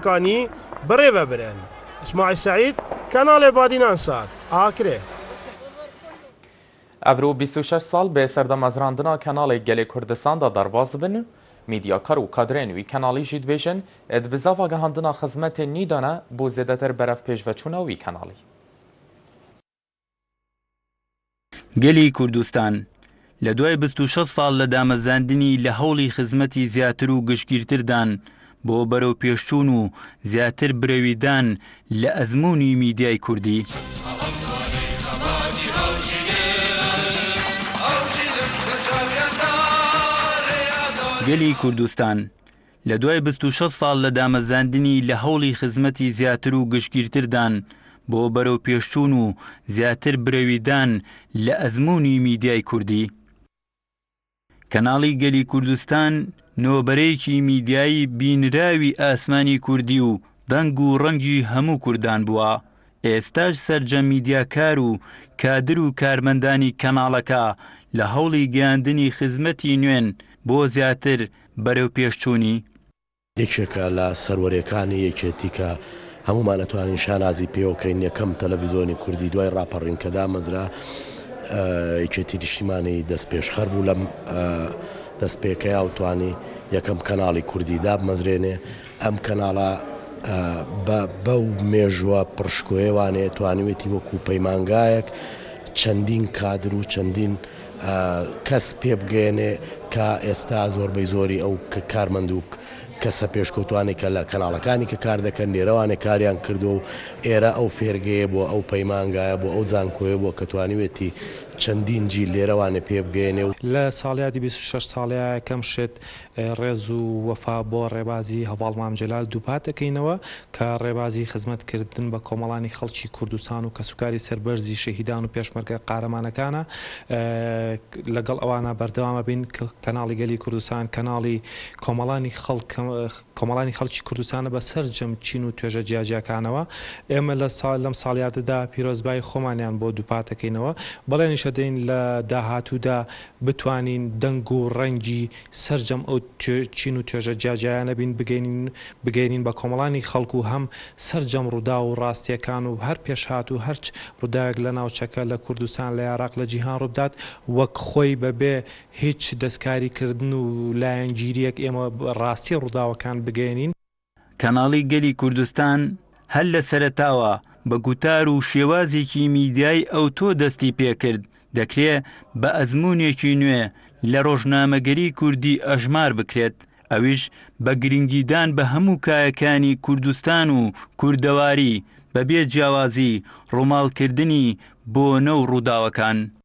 کانی بڕێ بە برێن. اسماعیل سعید کەناڵێ بادینان سات ئاکرێ. ئەڤرو بیست و شەش ساڵ بێ سەردە مەزراندنا کەناڵێ گەلێ کوردستان دا دەرباز بن و میدیاکار و کادرێن وی کەناڵی ژید بێژن ئێد بزاف ئاگەهاندنا خزمەتێ نیدانە بۆ زێدەتر بەرەڤ پێشڤەچوونا وی کەناڵی. گەلی کوردستان لە دوای بیست و شەش ساڵ لە دامەزراندنی لە هەوڵی خزمەتی زیاتر و گشتگیرتردان بۆ بەرەوپێشچوون و زیاتر برەویدان لە ئەزموونی میدیای کوردی. گەلی کوردستان لە دوای بیست و شەش ساڵ لە دامەزراندنی لە هەوڵی خزمەتی زیاتر و گشتگیرتردان بۆ بەرەوپێشچوون و زیاتر برەویدان لە ئەزموونی میدیای کوردی. کەناڵی گەلی کوردستان نۆ بەرەیەکی میدیایی بینراوی ئاسمانی کوردی و دەنگ و ڕەنگی هەموو کوردان بووە، ئێستاش سەرجەم میدیاکار و کادر و کارمەندانی کەناڵەکە لە هەوڵی گەیاندنی خزمەتی نوێن بۆ زیاتر بەرەوپێشچوونی. یەکێکە لە سەروەریەکانی یەکێتی کە هەموومان ئەتوانین شانازی پێوە بکەین یەکەم تەلەڤیزۆنی کوردی دوای ڕاپەڕین کە دامەزرا یەکێتی نیشتیمانی دەستپێشخەر بوو لەم دەستپێکەیا و توانی یەکەم کەناڵی کوردی دابمەزرێنێ ئەم کەناڵە بە بەو مێژووە پڕشکۆیەوانەیە توانیوێتی وەکو پەیمانگایەک چەندین کادر و چەندین کەس پێ بگەیەنێ کە ئێستا زۆربەی زۆری ئەو کارمەند و کەسە پێشکەوتوانەی کە لە کەناڵەکانی کە کار دەکەن لێرەوانێ کاریان کردوە و ئێرە ئەو فێرگەیە بۆ ئەو پەیمانگایە بۆ ئەو زانکۆیە بوە کە توانیوێتی چەندین جیل لێرەوانێ پێ بگەیەنێ و لە ساڵیادی بیست و شەش ساڵیایەکەم شت ڕێز و وەفا بۆ ڕێبازی هەڤاڵ مام جەلال دووپات دەکەینەوە کە ڕێبازی خزمەت کردن بە کۆمەڵانی خەڵکی کوردستان و کەسوکاری سەربەرزی شەهیدان و پێشمەرگە قارەمانەکانە لەگەڵ ئەوانا بەردەوام ئەبین کەناڵی گەلی کوردستان کەناڵی کۆمەڵانی خەڵک کۆمەڵانی خەڵکی کوردستانە بە سەرجەم چین و توێژە جیاجیاکانەوە ئێمە لە سا لەم ساڵیادەدا پیرۆزبایی خۆمانیان بۆ دووپات دەکەینەوە بەڵێنیش ئەدەین لە داهاتوودا بتوانین دەنگ و ڕەنگی سەرجەم ئەو چین و توێژە جیاجیایانە بین، بگەینین بگەینین بە کۆمەڵانی خەڵک و هەم سەرجەم ڕووداو و ڕاستییەکان و هەر پێشهات و هەرچ ڕووداوێک لە ناوچەکە، لە کوردستان، لە یاراق، لە جیهان ڕووبدات، وەک خۆی بەبێ هیچ دەستکاریکردن و لایەنگیرییەک ئێمە ڕاستی ڕووداوەکان بگەینین. کەناڵی گەلی کوردستان هەر لە سەرەتاوە بە گوتار و شێوازێکی میدیایی ئەوتۆ دەستی پێ کرد، دەکرێ بە ئەزموونێکی نوێ لە ڕۆژنامەگەریی کوردی ئەژمار بکرێت، ئەویش بە گرنگیدان بە هەموو کایەکانی کوردستان و کوردەواری، بەبێ جیاوازی ڕووماڵکردنی بۆنە و ڕووداوەکان.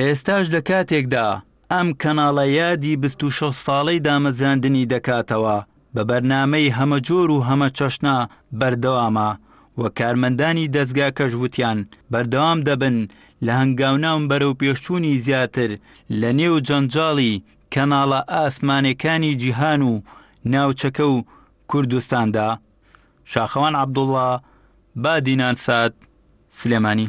ئێستاش لە کاتێکدا ئەم کەناڵە یادی بیست و شەش ساڵەی دامەزراندنی دەکاتەوە، بە بەرنامەی هەمەجۆر و هەمە چەشنە بەردەوامە و کارمەندانی دەزگاکەش وتیان بەردەوام دەبن لە هەنگاوناون بەرەوپێشچوونی زیاتر لە نێو جەنجاڵی کەناڵە ئاسمانێکانی جیهان و ناوچەکە و کوردستاندا. شاخەوان عەبدوڵا، بادینان سات، سلێمانی.